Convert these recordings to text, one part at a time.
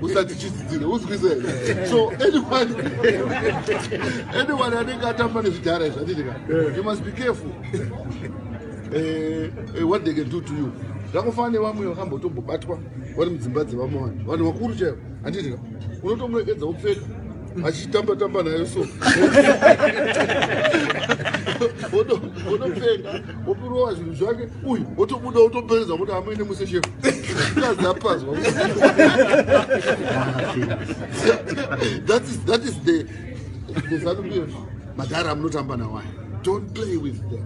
usati chidzidzire uzwise so anyone anyone anenge atamba nezvidhara izvi atiti ka you must be careful eh, eh, what they can do to you zvakufana nevamwe vakambotombobatwa vari mudzimba dzevamwe vanhu vanhu vakuru chaivo handiti ka unotomuregedza upfeka achitamba tamba nayo so wotopfeka wopirowa zvinhu zvake uyu wotobuda wotopereza kuti amuine muse shefu kazapazwa that is the the zanupf madhara amunotamba nawaya don't play with them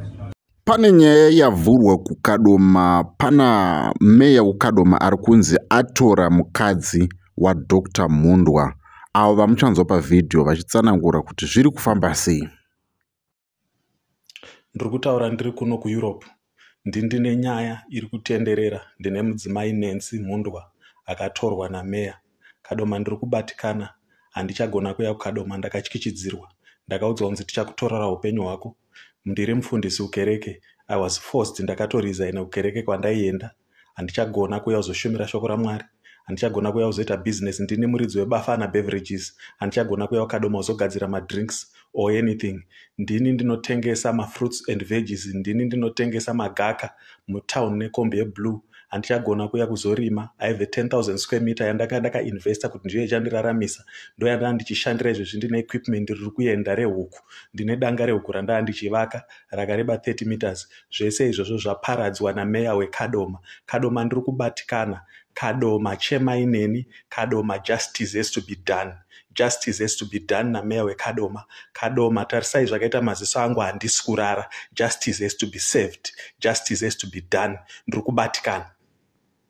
Pane nyaya yavhurwa kuKadoma, pana meya weKadoma ari kunzi atora mukadzi waDr Mhundwa avo vamuchanzwa pavhidhiyo vachitsanangura kuti zviri kufamba sei. Ndiri kutaura ndiri kuno kuEurope ndi ndine nyaya iri kutenderera ndine mudzimai Nancy Mhundwa akatorwa nameya Kadoma ndiri kubatikana handichagona kuya kuKadoma ndakatyityidzirwa ndakaudzwa kunzi tichakutorora hupenyu hwako ndiri mufundisi kukereke I was forced ndakatorizaina kukereke kwandaienda handichagona kuya kuzoshumira shoko raMwari handichagona kuya kuzoita business ndini muridzi webafana beverages handichagona kuya kuKadoma kuzogadzira madrinks or anything ndini ndinotengesa mafruits and veggies ndini ndinotengesa magaka mutown nekombi yeblue handichagona kuya kuzorima i have a 10000 square meter yandaka ndakainvesta kuti ndiyo ichandiraramisa ndo yandaa ndichishandira izvezvi ndine equipment riri kuenda rehuku ndine danga rehuku randaa ndichivaka rakareba 30 meters zvese izvozvo zvaparadzwa nameya wekadoma kadoma ndiri kubatikana kadoma chemaineni kadoma justice has to be done Justice has to be done na Mayor weKadoma. Kadoma tarisai zvakaita maziso angu handisi kurara. Justice has to be served. Justice has to be done. Ndiri kubatikana.